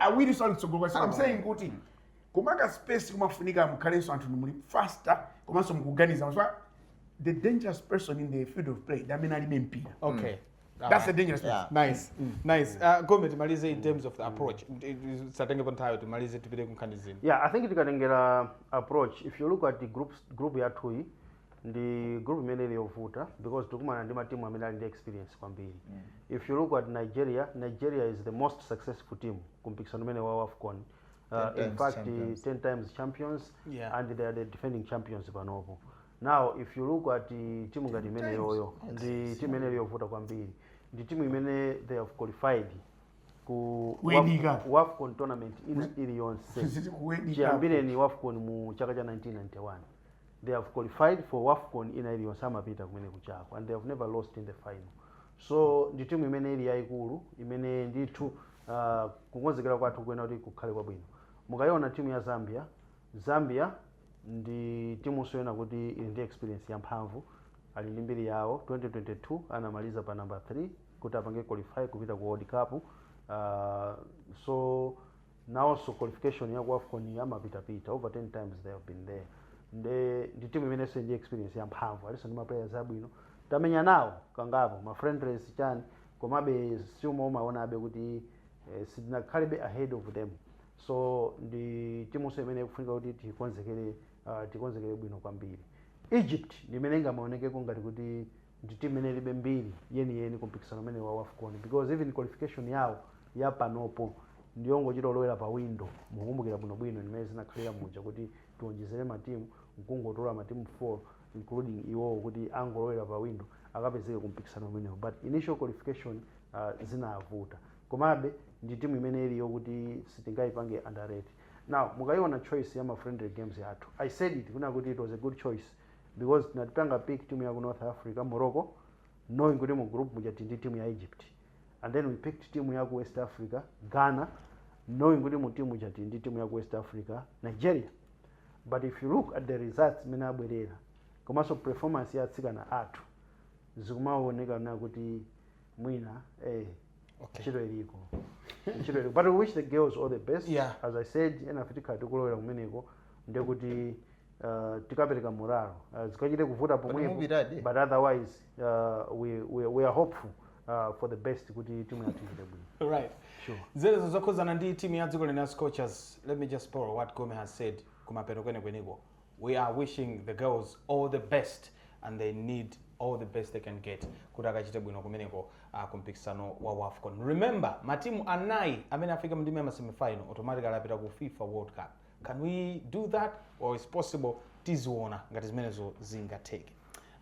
awirinso ali kutsogolo so I'm saying kuti kumaka space kumafunika mukhalenso anthu muli faster komanso mukuganiza chifukwa the dangerous person in the field of play ndi amene alibe mpira okay that's the dangerous person Yeah. nice nice uh, gome timalize in terms of the approach tisatengepo nthawi timalize tipite kunkhani zina Yeah, I think tikatengera approach if you look at the group group yathuyi ndi group imene ili yovuta because tikumana ndi matimu amene ali ndi experience kwambiri mm. if you look at nigeria nigeria is the most successful team kumpikisano umenewu wa wafcon uh, Ten in times fact champions. 10 times champions Yeah. and they are the defending champions panopo now if you look at uh, timu ngati imeneyoyo ndi timu imene ili yovuta kwambiri ndi timu imene they have qualified ku Kuenika. Waf- wafcon tournament ili- iliyonse Zili kuenika. chiyambireni wafcon mu chaka cha 1991 They have qualified for Wafcon ina iliyonse amapita kumeneko kujako and they have never lost in the final so ndi timu imene ili yayikulu imene ndithu uh, kukonzekera kwathu kuyenera kuti kukhale kwabwino mukayiona timu ya zambia zambia ndi timunso yonena kuti ili ndi experience yamphamvu ali ndi mbiri yawo 2022 anamaliza pa number 3 kuti apange qualify kupita ku world cup uh, so nawonso qualification ya ku afcon amapitapita over 10 times they have been there nde ndi timunso imene ili ndi experience ya mphamvu alinso ndi maplayers abwino tamenya nawo kangapo ma friendlies chani komabe still more umaonabe kuti eh, sitinakhalebe ahead of them so ndi timunso imene ikufunika kuti tikonzekere uh, tikonzekere bwino kwambiri egypt ndi imene ingamaonekeko ngati kuti ndi team imene ilibe mbiri yeni yeni ku mpikisano umenewu wa wafcon because even qualification yawo ya panopo ndiyongochita kulowera pa window mukukumbukira bwino bwino mmene zinakhalira muja kuti tiwonjezere ma team nkungotola ma team 4 including iwowo kuti angolowera pa window akapezeke ku mpikisano umenewu but initial qualification uh, zinavuta komabe ndi timu imene ili yoti sitingayipange underrate now mukayiona choice ya ma friendly games yathu i said it kunena kuti it was a good choice because tinapanga pick timu yaku north africa morocco knowing kuti mu group muja tili ndi timu ya egypt and then we picked timu yaku west africa ghana knowing kuti mu timu muja tili ndi timu yaku west africa nigeria but if you look at the results mmene abwerera komanso performance ya atsikana athu zikumaoneka kunena kuti mwina eh, Okay. ntchito iliko ntchito iliko but we wish the girls all the best Yeah. as i said ena afe tikhala tikulowera kumeneko nde kuti uh, tikapereka morale uh, zikachite kuvuta pomwepo mupitadi? but otherwise uh, we, we, we are hopeful uh, for the best kuti timu yathu ichite bwino right Sure. ndi izo zokhuzana ndi timu ya dziko lino ya scorchers let me just borrow what gome has said kumapeto kwenekweneko we are wishing the girls all the best and they need all the best they can get kuti akachite bwino kumeneko uh, kumpikisano wa wafcon remember matimu anayi amene afika mndime ya masemifinal automatically apita ku fifa world cup can we do that or it's possible tiziona ngati zimenezo zingatheke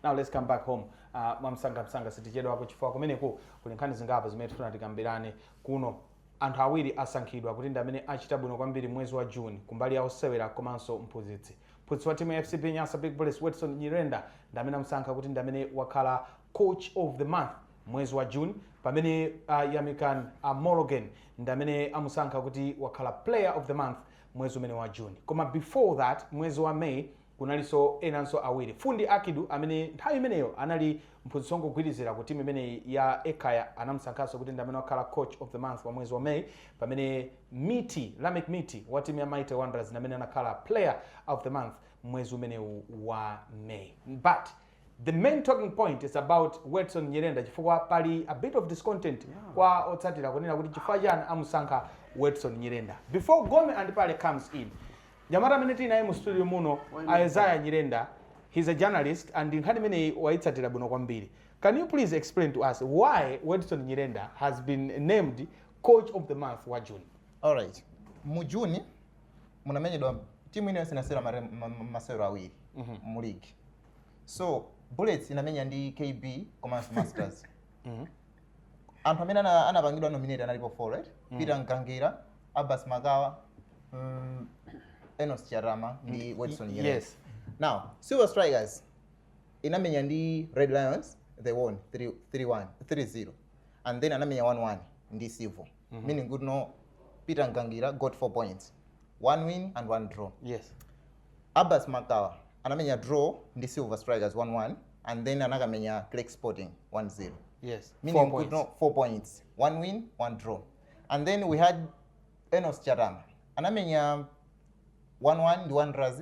now let's come back home uh, mwamsangamsanga sitichedwako chifukwa kumeneko kuli nkhani zingapo zimene tifuna tikambirane kuno anthu awiri asankhidwa kuti ndi amene achita bwino kwambiri mwezi wa june kumbali ya osewera komanso mphunzitsi mphunzitsi wa timu ya fcb nyasa big bullets wedson nyirenda ndi amene amusankha kuti ndi amene wakhala coach of the month mwezi wa June pamene a Yamikani Mologeni ndi amene amusankha kuti wakhala player of the month mwezi umene wa June koma before that mwezi wa May kunalinso enanso awiri Fundi Akidu amene nthawi imeneyo anali mphunzitsi wongogwirizira ku timu imeneyi ya Ekaya anamusankhanso kuti ndi amene wakhala coach of the month wa mwezi wa May pamene Mithi Lameck Mithi wa timu ya Mighty Wanderers ndi amene anakhala player of the month mwezi umenewu wa May but The main talking point is about Wedson Nyirenda chifukwa pali a bit of discontent kwa otsatira kunena kuti chifukwa chani amusankha Wedson Nyirenda. Before Gome and Pale comes in, mnyamata amene tili naye mu studio muno Isaiah Nyirenda, he's a journalist and nkhani imeneyi wayitsatira bwino kwambiri. Can you please explain to us why Wedson Nyirenda has been named coach of the month wa June? Alright. Mu June munamenyedwa timu ina iliyonse inasewera mare- ma- ma- masewero awiri mu league. so bullets inamenya ndi kb komanso masters Mhm. anthu amene ana- anapangidwa nominate analipo four right peter mgangira abbas makawa mm, enos chatama ndi wedson Nyirenda. yes. now silver strikers inamenya ndi red lions they won 3 3-1 3-0 and then anamenya 1-1 ndi civo meaning kutino peter mgangira got 4 points one win and one draw yes abbas makawa anamenya draw ndi silver strikers 1-1 and then anakamenya clek sporting 1-0 yes meaning four points. No, four points one win one draw and then we had enos chatama anamenya 1-1 ndi wanderers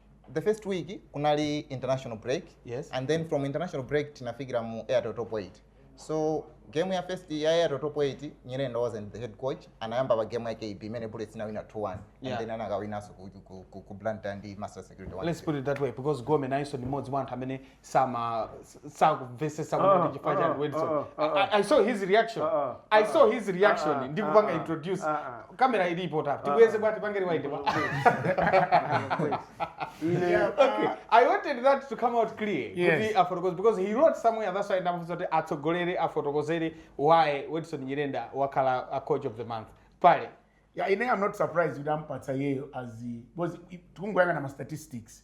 the first week kunali international break Yes. and then from international break tinafikira mu airtel top 8 so game ya first ya airtel top 8 nyirenda wasn't the head coach anayamba pa game ya kb imene bullets inawina 2-1 and Yeah. then anakawinanso ku, ku, ku, ku blantyre ndi master security 1-0. let's put it that way because gome nayenso ndi mmodzi mwa anthu amene sama sakumvesesa kuti ndi chifukwa chani Wedson I, I saw his reaction I saw his reaction ndi kupanga introduce kamera ili pa top tibweze bwa tipangire wide bwa okay I wanted that to come out clear Yes. kuti afotokoze because he wrote somewhere that's why ndamufunsa kuti atsogolere afotokozere why Wedson Nyirenda wakhala a coach of the month pale Yeah, ine I'm not surprised kuti ampatsa iyeyo as the- because i- tikungoyang'ana ma statistics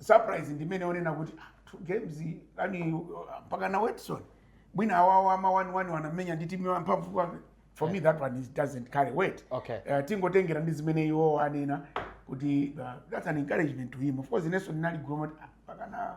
surprise ndimayinena kuti ah, two games yani uh, mpaka na Wedson mwina awawa ama 1-1 anamenya ndi timu ya mphamvu kwake for me that one is, doesn't carry weight Okay. uh, tingotengera ndi zimene iwo anena kuti uh, that's an encouragement to him of course inenso linandigoma kuti ah, mpaka na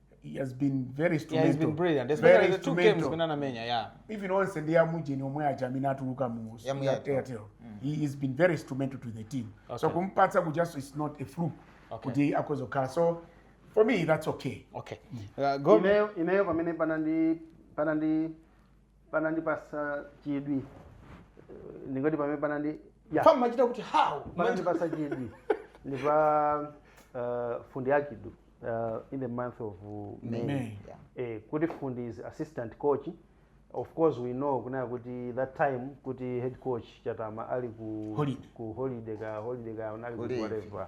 he has been very yeah, he's been brilliant especially the two games zimene anamenya yeah even onse ndi amujeni omwe aja amene anatuluka mu airtel mm. he has been very instrumental to the team okay. so kumpatsa kuja it's is not a fluke okay. kuti akhoza kukhala so for me that's okay okay mm. uh, go ineyo pamene panandi panandi panandipasa chidwi eh, ndingoti pamene panandi ya Fam machita kuti how? panandipasa chidwi ndi pa uh, fundi akidu uh, in the month of uh, may May. Yeah. eh, kuti fundi is assistant coach of course we know kunena kuti that time kuti head coach chatama ali ku Holiday. ku holiday ka holiday ka anali Ku ku leave. whatever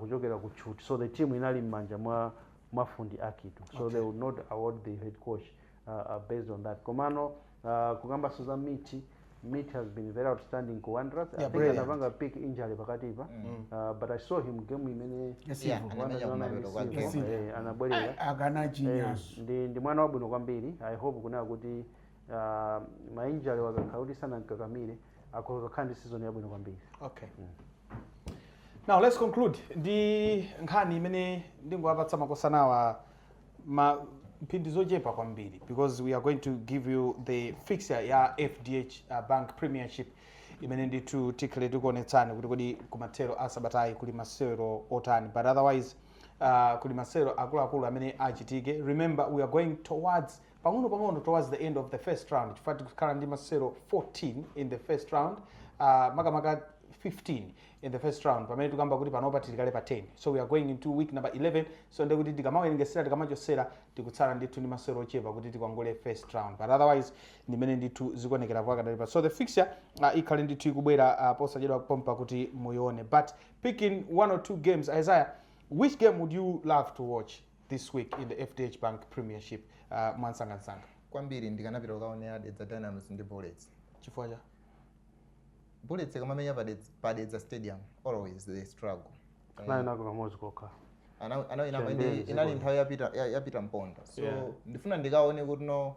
kuchokera ku tchuthi so the team inali mmanja mwa mwa Fundi Akidu so okay. they would not award the head coach uh, uh, based on that komano uh, kukambaso za miti Mitch has been very outstanding ku Wanderers. Yeah, I think anapanga pick injury pakati pa. Mm. Uh, but I saw him game imene anabwerera. Mnyamata genius. Ndi ndi mwana wabwino kwambiri. I hope kunena kuti uh, ma injury akakhala kuti sanamkakamire akhoza kukhala ndi season yabwino kwambiri. Okay. Mm. now let's conclude ndi nkhani imene ndingowapatsa makosanawa ma mphindi zochepa kwambiri because we are going to give you the fixture ya fdh uh, bank premiership imene ndithu tikhale tikuonetsani kuti kodi kumathero a sabatayi kuli masewero otani but otherwise uh, kuli masewero akuluakulu amene achitike remember we are going towards pang'ono pang'ono towards the end of the first round chifukwa tikukhala ndi masewero 14 in the first round uh, makamaka 15 in the first round pamene tikamba kuti panopa tili kale pa 10 so we are going into week number 11 so ndekuti tikamawerengesera tikamachosera tikutsala ndithu ndi masewero ochepa kuti tikwangule first round but otherwise ndimene ndithu zikuonekera pakadalipa so the fixture uh, ikhale ndithu ikubwera uh, posachedwa pompa kuti muione but picking one or two games isaiah which game would you love to watch this week in the fdh bank premiership uh, mwansangansanga kwambiri ndikanapita kukaonera dedza dynamos ndi bullets chifukwa cha bullets ikamamenya pa Dedza- pa dedza stadium always they struggle nayo nako kamodzi kokha Ana- ana- ina- Chembezi, ina- inali nthawi ya Peter ya- ya Peter mponda so Yeah. ndifuna ndikaone kuti no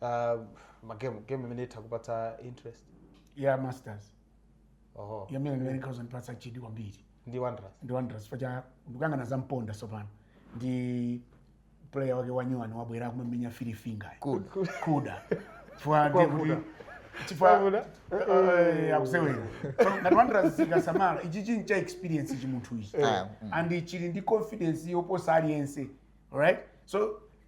Uh, magemu game imene itha kupatsa interest ya masters oho game imene ikhoza ndipatsa chidwi kwambiri ndi wanderers ndi wanderers chifukwa cha ndikuyang'ana za mponda tsopano ndi ma player ake anyuwani abwera akumamenya fili finger good kuda chifukwa ndiye kuti Kwavuta. chifukwa Kwavuta. eh, akusewera So, ngati wanderers sikasamala ichi chinthu cha experience chi munthu ichi Ah, and chili ndi confidence yoposa aliyense alright so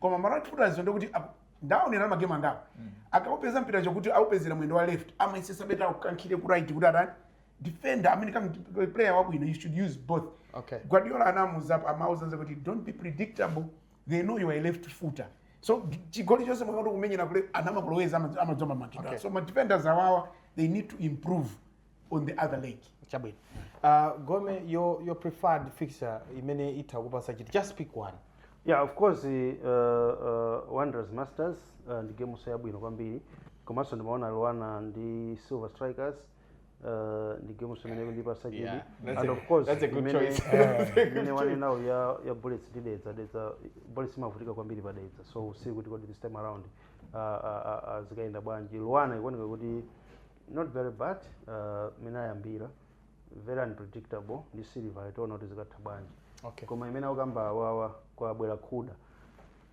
koma ma right footers ndiye kuti ap- ndaonera ma game angapo akaupeza mpira chokuti aupezera mwendo wa left amayesesa better aukankhire ku right kuti atani defender I mean ka player wabwino you should use both Okay. guardiola anamuza amauza kuti don't be predictable they know you are a left footer so chigoli chonse wangoti kumenyera kule anamakuloweza amadzomba makidwa Okay. so ma defenders awawa they need to improve on the other leg chabwino uh, gome your, your preferred fixture imene itha kukupasa chidwi just pick one yeah of course uh, uh, wanderers masters uh, ndi gameso yabwino kwambiri komanso ndimaona luana ndi silver strikers uh, ndi gameso imene ikundipasa chidwi Yeah, that's and a- of course that's a good imene- choice. That's a good imene choice. wanenawo ya, ya bullets ndi dedza dedza bullets imavutika kwambiri pa dedza so you see kuti kodi this time around uh, uh, uh, zikayenda bwanji luana ikuoneka kuti Not very bad mmene ayambira very unpredictable ndi silver tiona kuti zikatha bwanji Okay. koma imene akukamba awawa kwabwera Kuda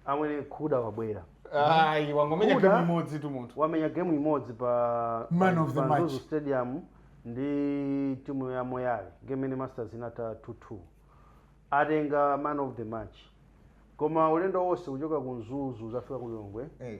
amwene Kuda wabwera Ayi, wangomenya Kuda. game imodzi tu munthu. wamenya game imodzi pa Man pa- of the pa match. Mzuzu stadium ndi timu ya moyale game imene masters inatha 2-2 atenga man of the match koma ulendo wonse kuchoka ku mzuzu kudzafika ku lilongwe Eh.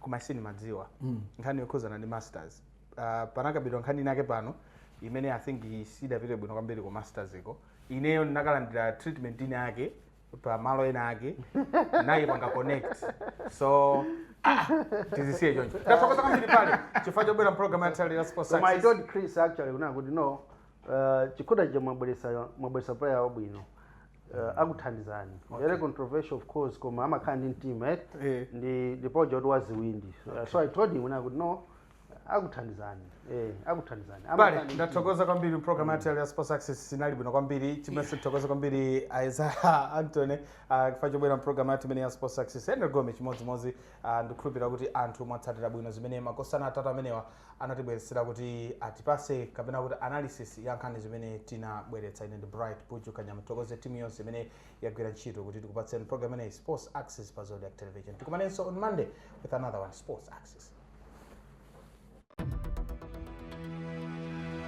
koma sindimadziwa mm. nkhani yokhuzana ndi masters uh, panakambidwa nkhani inake pano imene i think siidapite bwino kwambiri ku masters iko ineyo ndinakalandira treatment ina yake pa malo ena ake naye panga connect so ah, tizisiye choncho ndathokoza kwambiri bale chifukwa chobwera mpulogalamu yathu ya Sports Koma I Access. told Chris actually kuna kuti no uh, Kuda uja mwabweresa mwabweresa player wabwino uh, akuthandizani okay. very controversial of course koma amakhala ndi mtima eh? Eh. ndi ndi project kuti aziwina okay. so i told him kuna kuti no akuthandizani eh, akuthandizani Bale, Amakhala ndi mtima. ndathokoza kwambiri program yathu ya sports access inali bwino kwambiri chimenso tithokoza kwambiri Isaiah Anthony ah, chifukwa chobwera mprogram yathu imene ya sports access Henry Gome chimodzimodzi ah, ndikukhulupirira kuti anthu mwatsatira bwino zimene makosana atatu amenewa anatibweretsera kuti atipase kapena kuti analysis ya nkhani zimene tinabweretsa ine ndi bright buju kanyama tithokoze timu yonse imene yagwira ntchito kuti tikupatseni program imeneyi sports access pa Zodiak television tikumanenso on monday with another one sports access